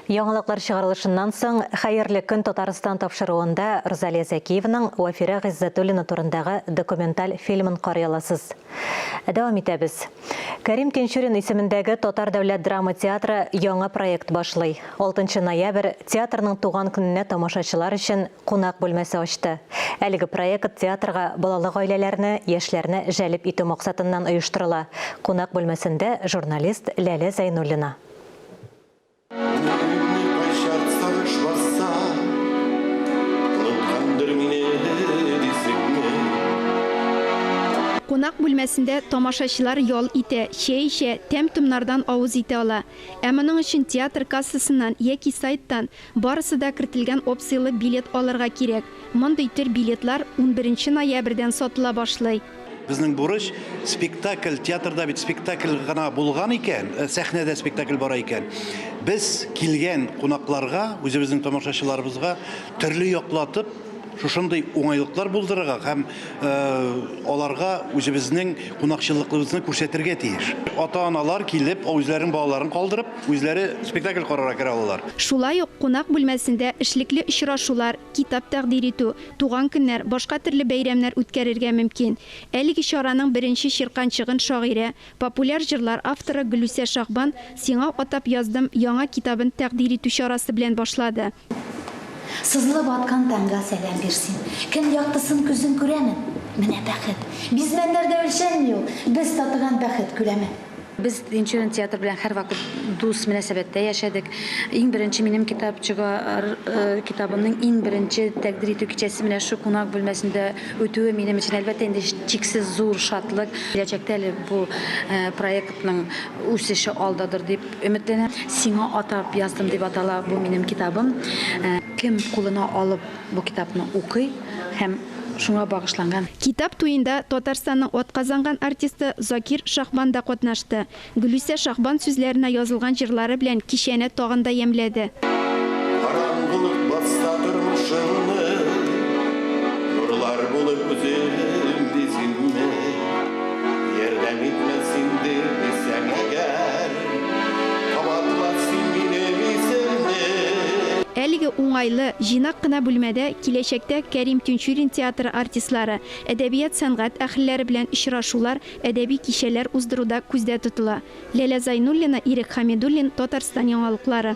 Яңалыклар чыгарылышыннан соң Хәерле көн Татарстан тапшыруында Рузалия Зәкиеваның Вафирә Гыйззәтуллина турындагы документаль фильмын карый аласыз. Дәвам итәбез. Кәрим Тинчурин исемендәге Татар дәүләт драма театры яңа проект башлый. 6 ноябрь театрның туган көненә тамашачылар өчен кунак бүлмәсе ачты. Әлеге проект театрга балалы гаиләләрне, яшьләрне җәлеп итү максатыннан оештырыла. Кунак бүлмәсендә журналист Ләлә Зәйнуллина. Кунак бүлмәсендә тамашачылар ял итә, чәй эчә, тәм-томнардан авыз итә ала. Ә моның өчен театр кассасыннан яки сайттан Барысы да кертелгән опцияле билет алырга кирәк. Мондый төр билетлар унберенче ноябрьдән сатыла башлый. Безнең бурыч, спектакль, театрда бит спектакль гына булган икән, сәхнәдә спектакль бара икән, без килгән кунакларга, үзебезнең тамашачыларыбызга төрле яклатып, шушындый уңайлыклар булдырырга һәм аларга үзебезнең кунакчыллыклыбызны күрсәтергә тиеш. Ата-аналар килеп, үзләренең балаларын калдырып, үзләре спектакль карарга керә алалар. Шулай ук кунак бүлмәсендә эшлекле очрашулар, китап тәкъдир итү, туган көннәр, башка төрле бәйрәмнәр үткәрергә мөмкин. Әлеге чараның беренче чирканчыгын шагыйрә, популяр җырлар авторы Гөлүсә Шагбан Сиңа атап яздым яңа китабын тәкъдир итү чарасы белән башлады. Сызылып аткан таңга сәлам бирсен. Көн яктысын күзең күрәме? Менә бәхет! Бизмәннәрдә үлчәнми ул, без татыган бәхет күләмен. Без Тинчурин театры белән һәрвакыт дус мөнәсәбәттә яшәдек. Иң беренче минем китапчыга р китабымның иң беренче тәкъдир итү кичәсе менә шу кунак бүлмәсендә үтүе минем өчен, әлбәттә инде, чиксез зур шатлык. Киләчәктә әле бу проектның үсеше алдадыр дип. Өметләнәм, сиңа атап яздым дип атала бу минем китабым. Кем кулына алып бу китапны укый һәм шуңа багышланган. Китап туенда Татарстанның атказанган артисты Закир Шахбан да катнашты. Гөлүсә Шахбан сүзләренә язылган җырлары белән кичәне тагын да ямьләде. Караңгылык басса тормышыңны, Нурлар булып үзем бизим мени? Әлеге уңайлы, җыйнак кына бүлмәдә киләчәктә Кәрим Тинчурин театры артистлары, әдәбият-сәнгать әһелләре белән очрашулар, әдәби кичәләр уздыру да күздә тотыла. Ләлә Зайнуллина, Ирек Хәмидуллин, Татарстан яңалыклары.